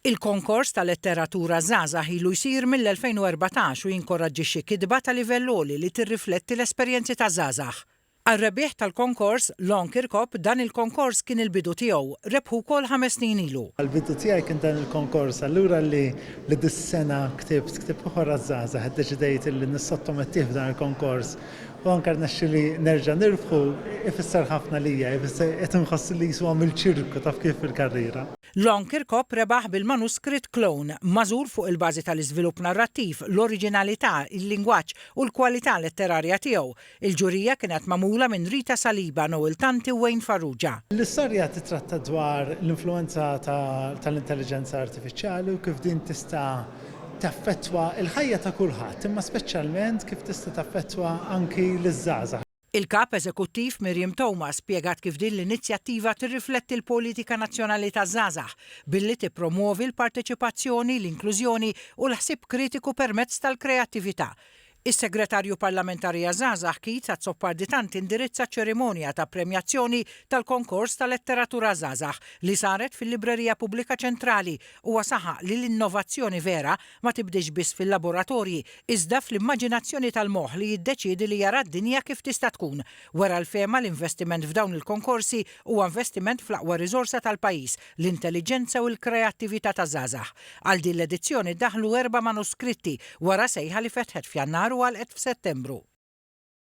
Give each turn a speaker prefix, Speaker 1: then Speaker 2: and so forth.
Speaker 1: Il-Konkors ta' Letteratura Żgħażagħ ilu jsir mill-2014 u jinkoraġġixxi kitba ta' livell għoli li tirrifletti l-esperjenzi ta' żgħażagħ. Għar-rebbieħ tal-konkors, Lon Kirkop, dan il-konkors kien il-bidu tiegħu, rebħu wkoll ħames snin ilu. Għall-bidu tiegħi kien dan
Speaker 2: il-konkors, allura li dis-sena ktibt ktieb ieħor għaż-żgħażagħ, iddeċidejt li nissottomettih f'dan il-konkors. U anke rnexxieli nerġa' nirbħu ifisser ħafna lija, ifisser qed inħoss li qisu għamilt xi rbka taf kif fil-karriera. Long Kirkop
Speaker 1: rebaħ bil-manuskritt Clone, magħżul fuq il-bażi tal-iżvilupp narrattiv, l-oriġinalità, il-lingwaġġ u l-kwalità letterarja tiegħu. Il-ġurija kienet magħmula minn Rita Saliba, Noel Tanti u Wayne Farrugia. L-istorja titratta
Speaker 2: dwar l-influwenza tal-intelliġenza artifiċjali u kif din tista' taffettwa l-ħajja ta' kulħadd, imma speċjalment kif tista' taffettwa anki liż-żgħażagħ. Il-Kap Eżekuttiv
Speaker 1: Miriam Thomas spjegat kif din l-inizjattiva tirrifletti l-Politika Nazzjonali taż-Żgħażagħ billi tippromwovi l-parteċipazzjoni, l-inklużjoni u l-ħsieb kritiku permezz tal-kreattività. Is-Segretarju Parlamentari għaż-Żgħażagħ Keith Azzopardi Tant indirizza ċ-ċerimonja ta' premjazzjoni tal-Konkors ta' Letteratura għaż-Żgħażagħ li saret fil-Librerija Pubblika Ċentrali. Huwa saħaq li l-innovazzjoni vera ma tibdiex biss fil-laboratorji iżda fl-immaġinazzjoni tal-moħħ li jiddeċiedi li jara d-dinja kif tista' tkun. Wera l-fehma li investiment f'dawn il-konkorsi huwa investiment fl-aqwa riżorsa tal-pajjiż, l-intelliġenza u l-kreattività taż-żgħażagħ. Għal din l-edizzjoni daħlu erba' manuskritti wara sejħa li fetħet f'Jannar u għalqet f'Settembru.